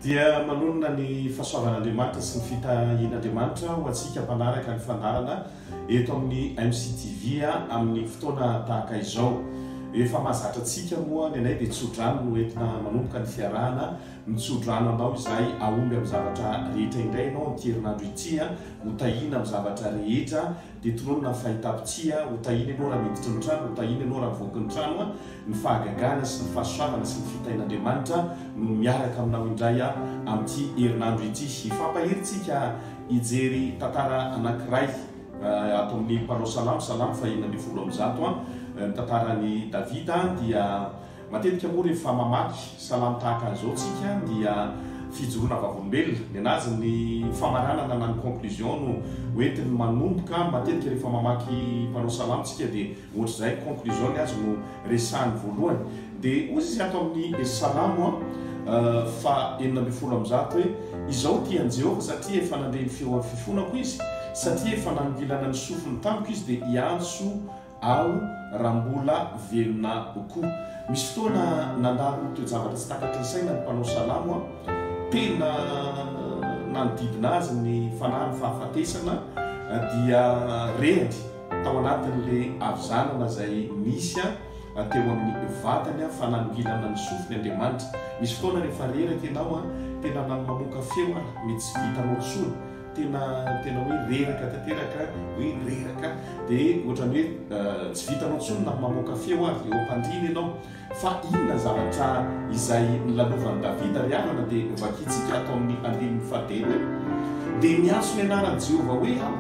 Dia manonona ny fahasoavan'Andriamanitra sy ny fitahian'Andriamanitra ho antsika mpanaraka ny fandaharana eto amin'ny MCTV amin'ny fotoana tahaka izao. Efa mahazatra antsika moa ny anay dia tsodrano no entina manomboka ny fiarahana. Mitsodrano anao izahay hahomby amin'ny zavatra rehetra indray ianao amin'ity herinandro ity. Ho tahiana amin'ny zavatra rehetra Dia tononina ny fahitam-pitia, Ho tahiana ianao raha miditra ny trano, ho tahiana ianao raha mivoaka ny trano, ny fahagagana sy ny fahasoavana sy ny fitahian'Andriamanitra no miaraka aminao indray amin'ity herinandro ity. Hifampahery isika hijery tantara anankiray ato amin'ny mpanao salamo, salamo fahenina ambin'ny folo amby zato, ny tantaran'i Davida dia Matetika moa rehefa mamaky salamo tahaka an'izao tsika dia fijoroana vavolombelona. Ny anazy ny famaranana na ny conclusion no hoentiny manomboka. Matetika rehefa mamaky mpanao salamo tsika dia ohatr'izay ny conclusion ny azy no resahany voalohany. Dia hoy izy ato amin'ny salamo faha enina ambin'ny folo amby zato hoe, Izao tia an'i Jehovah satria efa nandre ny feon'ny fifonako izy, satria efa nanongilana ny sofiny tamiko izy dia hiantso aho raha mbola velona koa. Misy fotoana nandalo toe-javatra tsy takatry ny saina ny mpanao salamo. Tena nanodidina azy ny fanahy ny fahafatesana dia rehany tao anatin'ilay havizanana izay nisy teo amin'ny vatany fa nanongilana ny sofiny Andriamanitra. Misy fotoana rehefa reraka ianao tena mamoaka feo ary tsy vitanao intsony. tena tena hoe reraka tanteraka hoe reraka dia ohatran'ny hoe euh, tsy vitanao tsony na mamoaka feo ary dia ompandrina ianao fa inona zavatra izay nilalovan'i davida ry havana dia vakintsika atao amin'ny andininy fahatelo dia miantso ny anaran'i jehovah hoe aho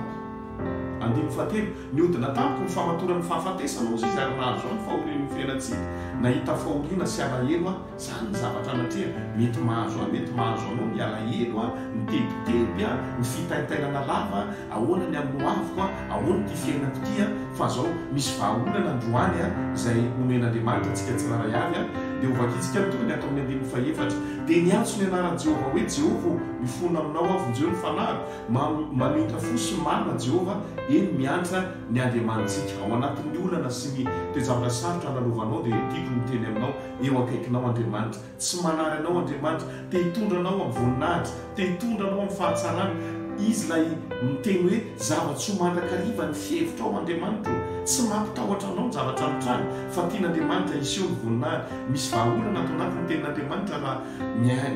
andininy fahatelo niodina tamiko ny famatoran'ny fahafatesana ozy izy ary nahazo any fahorian'ny fiainantsika nahita fahoriana sy alahelo aho Zany ny zavatra anatreha, mety mahazo ahy, mety mahazo anao, ny alahelo a, ny tebiteby a, ny fitaintainana lava a, ahoana ny amin'ny hoaviko a, ahoana ity fiainako ity a, fa zao misy vahaolana androany a, izay omen'Andriamanitra antsika tsirairay avy a, dia hovakintsika ny tohiny ato amin'ny andininy fahefatra, dia niantso ny anaran'i Jehovah hoe, Jehovah ô, mifona aminao aho, vonjeo ny fanahiko, mam, mamintra fo sy marina Jehovah, eny, miantra ny Andriamanitsika, ao anatin'ny olana sy ny toe-javatra sarotra analovanao, dia tiako ny miteny aminao, Eo akaikinao Andriamanitra. Tsy manary anao Andriamanitra. Te hitondra anao amin'ny voninahitra. Te hitondra anao amin'ny fahatsarana. Izy ilay miteny hoe, Zava-tsoa mandrakariva ny fihevitra ao Andriamanitra ô. Tsy mampitahotra anao ny zavatra mitranga, fa tian'Andriamanitra hiseho ny voninahiny. Misy vahaolana ato anatin'ny Tenin'Andriamanitra raha.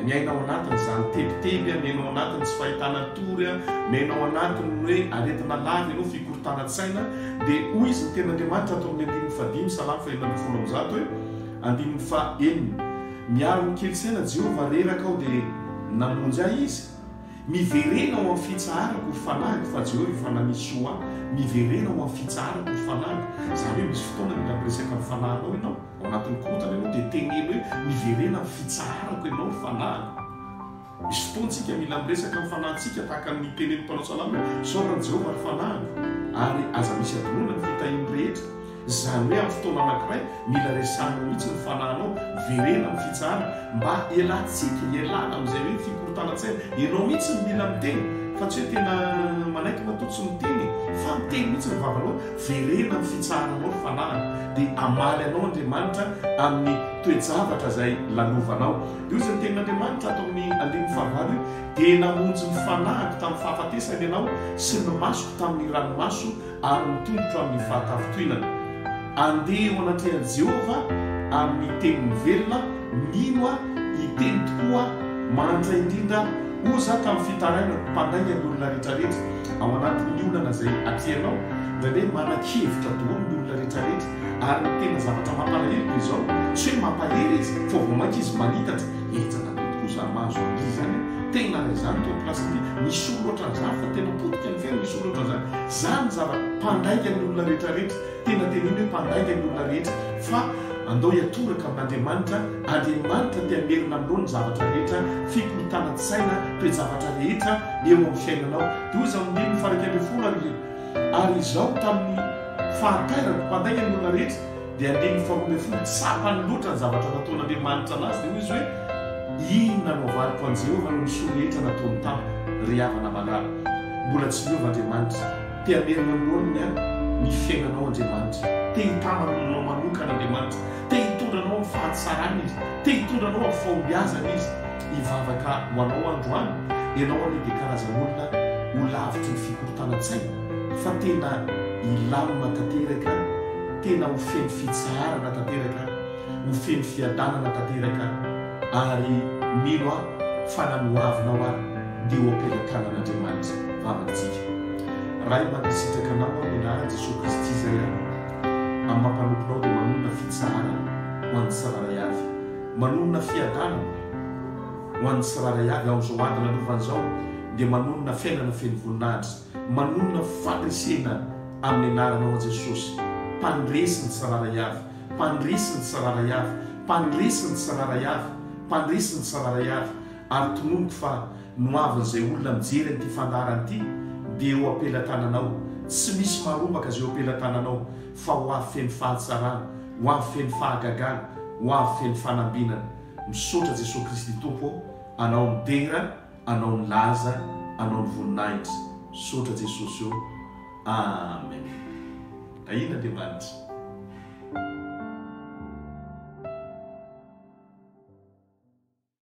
Miaina ao anatin' izany tebiteby a, miaina ao anatin' ny tsy fahitana tory a, miaina ao anatin' ny hoe aretina lava ianao, fikorontanan-tsaina, dia hoy izy ny Tenin' Andriamanitra ato amin' ny andininy fahadimy, Salamo fahenina ambin'ny folo amby zato hoe, andininy fahenina, Miaro ny kely saina Jehovah, reraka aho dia namonjy ahy Izy. Miverena ao amin' ny fitsaharako ry fanahiko, fa Jehovah efa nanisy soa ahy, miverena ao amin' ny fitsaharako ry fanahiko. Izany hoe misy fotoana mila miresaka amin' ny fanahinao ianao. Ao anatin'ny korontana ianao dia teneno hoe miverena amin'ny fitsaharako ianao ny fanahiko. Misy fotoana isika mila miresaka amin'ny fanahintsika tahaka ny tenenin'ny mpanao salamo hoe isaorana an'i Jehovah ny fanahiko ary aza misy adinoana ny fitahiany rehetra. Izany hoe amin'ny fotoana anankiray mila resahina mihitsy ny fanahinao, miverena amin'ny fitsaharana mba hialantsika, hialana amin'izay hoe fikorontanan-tsaina. Ianao mihitsy no mila miteny fa tsy hoe tena manaiky matoa tsy miteny e! Fa miteny mihitsy ny vavanao. Verena ny fitsaharanao ny fanahiny, dia hamaly anao Andriamanitra amin'ny toe-javatra izay lanovanao. Io izay ny tenin'Andriamanitra ato amin'ny andininy fahavalo io, Dia namonjy ny fanahiko tamin'ny fahafatesana ianao, sy ny masoko tamin'ny ranomaso, ary ny tongotro amin'ny fahatafintohinana. Andeha eo anatrehan'i Jehovah amin'ny teniny velona, mino aho, hiteny tokoa aho, mahantra indrindra aho, hoy izaho tamin'ny fitarainako, Mpanainga ny olona rehetrarehetra. ao anatin'ny olana izay atrehinao, indraindray hoe manan-kevitra daholo ny olona rehetrarehetra, ary ny tena zavatra mampalahelo dia izao, tsy hoe mampahery izy fa vao mainka izy manitatra, hetsaka be tokoa izaho mahazo an'ity izany a! tena raha izaho no teo am-pilasin'ity, misolo ohatran'izany fa tena potika ny fiainana, misolo ohatran'izany, izany zava-pandaingan'ny olona rehetrarehetra. Tena tena iny hoe mpandainga ny olona rehetra fa andao hiatoraka amin'Andriamanitra, Andriamanitra te hamerina aminao ny zavatra rehetra, fikorontanan-tsaina, toe-javatra rehetra eo amin'ny fiainanao. Dia hoy izy amin'ny andininy faha iraika ambin'ny folo ary hoe, Ary izaho tamin'ny fahatairako mpandainga ny olona rehetra, dia andininy faha roa ambin'ny folo, tsapany loatra ny zavatra nataon'Andriamanitra an'azy, dia hoy izy hoe, Iny nanaovaniko an'i Jehovah noho ny soa rehetra nataony tamiko, ry havana malala. Mbola tsy miova Andriamanitra. Te hamerina loaniny ny fiainanao Andriamanitra. Te hitana ny olonao manokana Andriamanitra. Te hitondra anao amin'ny fahatsarany Izy. Te hitondra anao amin'ny fahombiazany Izy. Hivavaka ho anao aho androany, ianao anie dia karazan'olona ho lavitry ny fikorontanan-tsaina, fa tena hilamina tanteraka, tena ho feno fitsaharana tanteraka. ho feno fiadanana tanteraka ary mino aho fa na nohavinao ary dia ho am-pelatanan'Andriamanitra vavantsika. Ray mankasitraka anao aho amin'ny anaran'i Jesoa Kristy izay aho amin'ny maha mpanomponao dia manonona fitsaharana ho an'ny tsirairay avy. Manonona fiadanana ho an'ny tsirairay avy aho izao ady nalovany izao dia manonona fiainana feno voninahitra. Manonona fandresena amin'ny anaranao aho Jesosy mpandresy ny tsirairay avy. Mpandresy ny tsirairay avy, mpandresy ny tsirairay avy, mpandresy ny tsirairay avy, ary tononiko fa ny ho avin'izay olona mijery an'ity fandaharana ity dia eo am-pelatananao, tsy misy marombaka izay eo am-pelatananao fa ho avy feno fahatsarana, ho avy feno fahagagana, ho avy feno fanambinana. Misaotra Jesoa Kristy Tompo ô, Anao midera Anao ny laza anao ny voninahitra sotra jesosy o amen ahin andriamanitra.